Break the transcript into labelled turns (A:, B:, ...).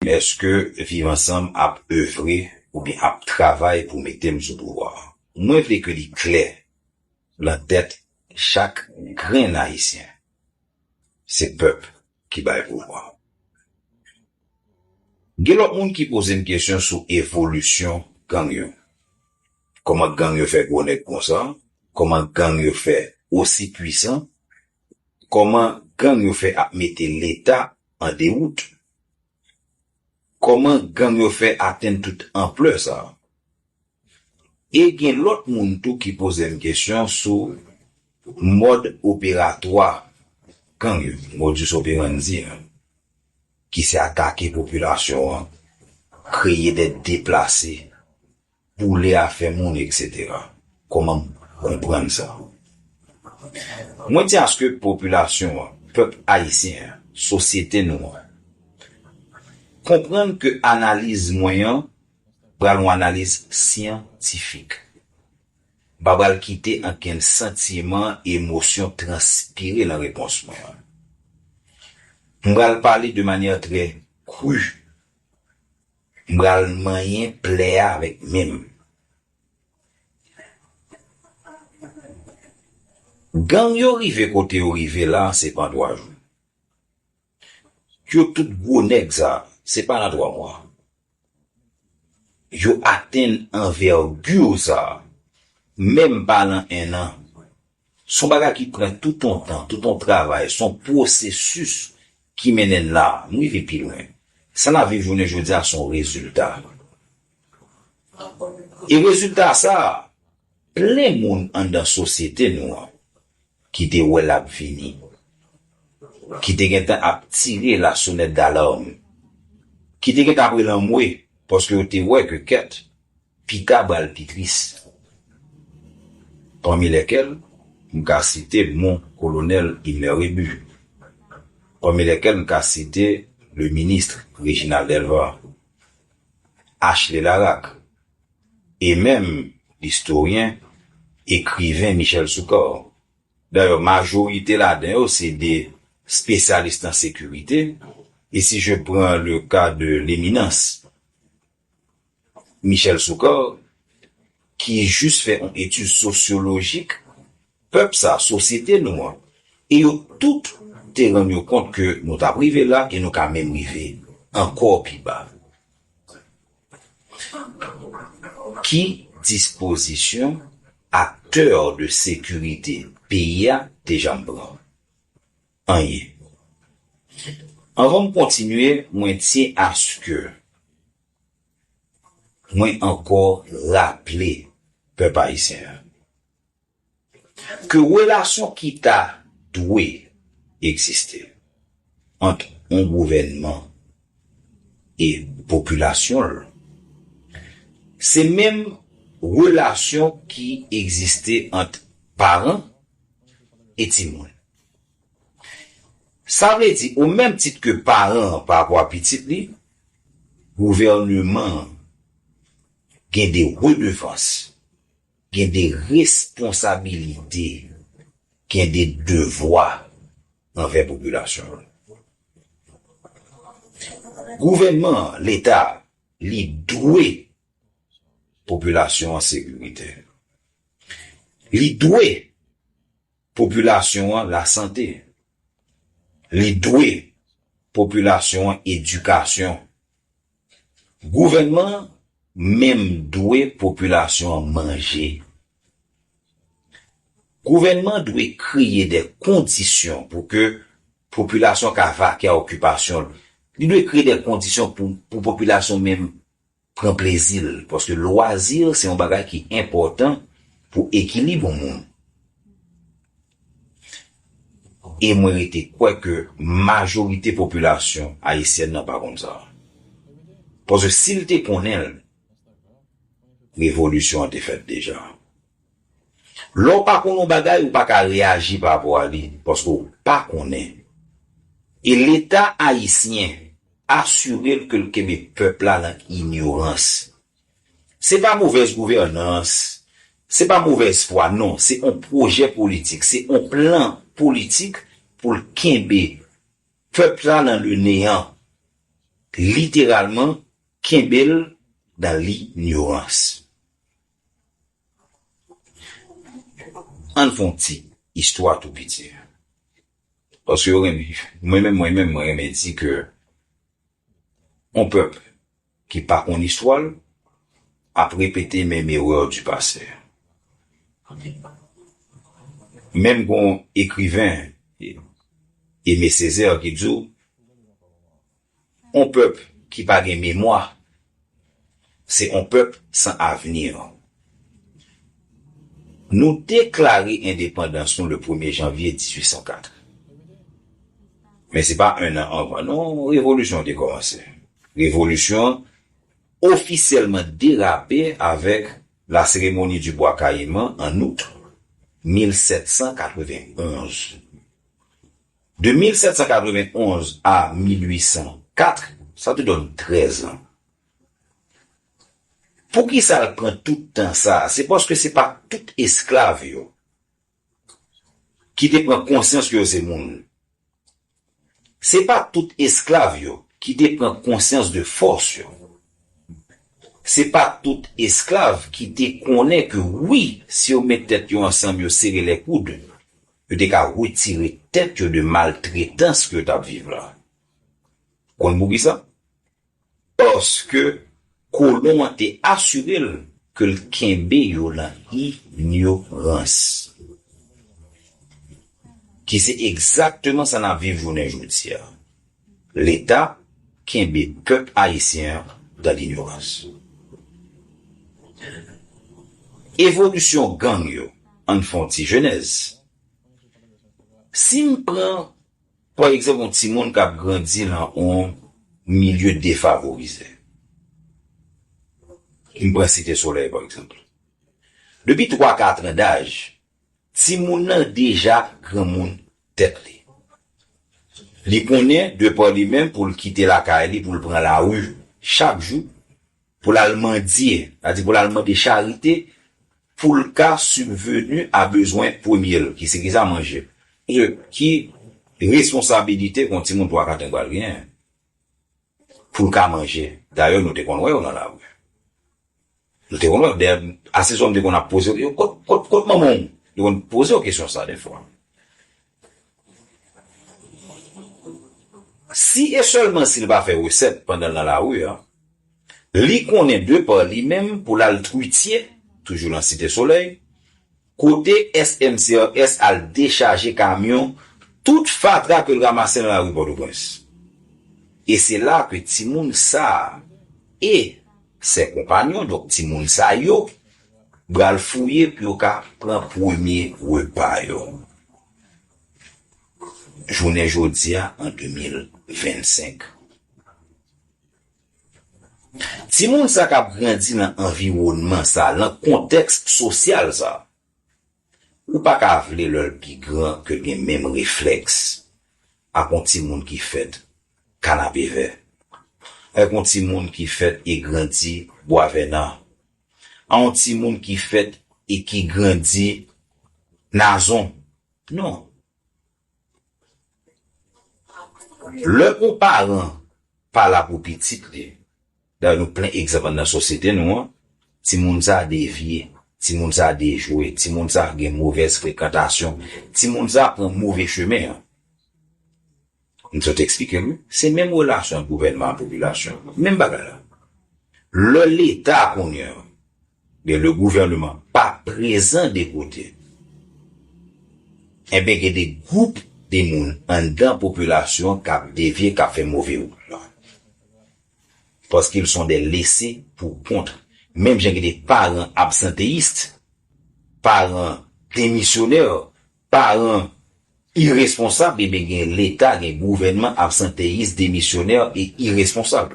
A: Eske viv ansanm ap evre oubyen ap travay pou mete m sou pouvwa a? Mwen vle ke li klè lan tèt chak grenn Ayisyen, se pèp ki bay pouvwa. Gen lòt moun ki poze m kesyon sou evolisyon gang yo. Kòman gang yo fè gwo nèg konsa? Kòman gang yo fè osi pwisan? Kòman gang yo fè ap mete leta an dewout. Kòman gang yo fè atenn tout anplè sa? E gen lòt moun tou ki poze m kesyon sou mòd operatwa gang yo, modus operandi a, ki se atake popilasyon an, kreye dèt deplase. boule afè moun etc. Koman m konprann sa? Mwen di aske popilasyon an, pèp ayisyen an, sosyete nou an, konprann ke analiz mwen an pral yon analiz syantifik. M pa pral kite ankenn santiman, emosyon transpire nan repons mwen an. M pral pale de manyè trè kru M pral manyen plè a avèk men m. Gang yo rive kote yo rive la se pa an 3 jou. Yo tout gwo nèg sa se pa nan 3 mwa yo atenn anvègir sa menm pa nan 1 an. Son bagay ki pran tout on tan, tout on travay, son pwosesis ki mennen n la, nou rive pi lwen. Sa n ap viv jounen jodi a son rezilta. E rezilta sa, plen moun anndan sosyete nou an ki te wè l ap vini, ki te gen tan ap tire la sonèt dalarm, ki te gen tan ap rele anmwe paske yo te wè ke kèt Pita bal pi tris. Pami lèkèl m ka site non Kolonèl Himler Rébu. Pami lèkèl m ka site le ministre Réginald Delva, Achlé Laraque e menm listoryen, ekriven Michel Soukar. Dayè majorite ladan yo se de spesyalis nan sekirite e si je pran le ka de Leminans Michel Soukar, ki jis fè on etid sosyolojik pèp sa, sosyete nou an, e yo tout te rann yo kont ke nou t ap rive la e nou ka menm rive ankò pi ba. Ki dispozisyon aktè de sekirite peyi a te janm pran? anyen. Anvan m kontinye mwen tyen aske mwen ankò raple pèp ayisyen an ke relasyon ki ta dwe egziste ant yon gouvènman e popilasyon l se menm relasyon ki egziste ant paran e timoun. Sa vle di, o menm tit ke paran an pa vwa pitit li, gouvèneman an gen de redevans, gen de responsabilite, gen de devwa anvè popilasyon an. Gouvèneman an, Leta a, li dwe popilasyon an sekirite. Li dwe. Popilasyon an lasante. Li dwe popilasyon an edikasyon. Gouvènman an menm dwe popilasyon an manje. Gouvènman dwe kreye de kondisyon pou ke popilasyon ka vake a okipasyon l. Li dwe kreye de kondisyon pou popilasyon menm. pran plezi l paske lwazi se yon bagay ki enpòtan pou ekilib yon moun e mwen rete kwè ke majorite popilasyon ayisyèn nan pa konn sa paske si l te konnen l revolisyon an te fèt deja. Lè w pa konn yon bagay, ou pa ka reyaji pa rapò a li, paske w pa konnen. E Leta ayisyen asire l ke l kenbe pèp la nan inyorans. Se pa movèz gouvènans, se pa movèz fwa, non, se yon pwojè politik, se yon plan politik pou l kenbe pèp la nan le neyan, literalman kenbe l nan linyorans. Ann fè yon ti istwa tou piti. Paske yo renmen, mwen menm mwen menm mwen renmen di ke yon pèp ki pa konn istwa l ap repete menm erè di pase. Menm gon ekriven Aimé Césaire ki di w On pèp ki pa gen memwa se on pèp san avenir. Nou deklare endepandans nou le premye janvye 1804. Men se pa 1 an anvan non revolisyon an te kòmanse. Revolisyon an ofisyèlman derape avèk La Cérémonie du Bois Caïman an Out 1791. De 1791 a 1804, sa te donn 13 an. Poukisa l pran tout tan sa a? Se paske se pa tout esklav yo ki te pran konsyans ke yo se moun. Se pa tout esklav yo ki te pran konsyans de fòs yo. Se pa tout esklav ki te konnen ke wi, si yo met tèt yo ansanm, yo sere lè koud, Yo te ka retire tèt yo de maltretans ke yo t ap viv lan. Ou konn poukisa? Paske kolon an te asire l ke l kenbe yo lan inyorans. Ki se egzakteman sa n ap viv jounen jodi a. Leta kenbe pèp ayisyen an dan linyorans. Evolisyon gang yo, ann fè yon ti jenèz. Si m pran pa egzanp yon timoun k ap grandi lan yon milye defavorize, m pran Site Solèy pa egzanp, depi twa katran daj, Timoun nan deja granmoun tèt li. Li konnen de pa li menm pou l kite lakay li pou l pran lari chak jou pou l al mandye, sa di pou l al mande charite pou l ka sibveni a bezwen premye l ki se ki sa, manje. Paske ki responsabilite ke yon timoun 3 4 an pral gen pou l ka manje? Dayè nou te konn wè yo nan lari. Nou te konn wè, dayè, ase souvan m te konn ap poze yo, kot, kot, kot manman w? Yo konn poze w kesyon sa dèfwa. Si e sèlman si l pa fè resèt pandan l nan lari a, li konnen de pa li menm pou l al twitye, toujou nan Site Solèy, Kote SMCRS al dechaje kamyon tout fatra ke l ramase nan lari Pòtoprens? E se la ke timoun sa e sè konpanyon, donk timoun sa yo, bral fouye pou yo ka pran premye repa yo jounen jodi a an 2025. Timoun sa kap grandi nan anviwònman sa, nan kontèks sosyal sa, ou pa ka vle lè l pi gran ke l gen menm reflèks ak yon timoun ki fèt Kanapevè, ak yon timoun ki fèt e grandi Bwavènan, ak yon timoun ki fèt e ki grandi Nazon. Non. Lè yon paran pa la pou pitit li, dayè nou plen egzanp anndan sosyete nou an, timoun sa devye, timoun sa dejwe, timoun sa gen movèz frekantasyon, timoun sa pran move chemen an. M sot eksplike nou, se menm relasyon ant gouvènman ak popilasyon, menm bagay la. Lè leta kounye an Men le gouvernement pa prezan de kote enben gen de gwoup de moun anndan popilasyon kap devye kap fè move wout lan paske l son de lese pou kont menm jan gen de paran absanteyist paran demisyonè paran iresponsab enben gen leta gen gouvènman absanteyis demisyonè e iresponsab.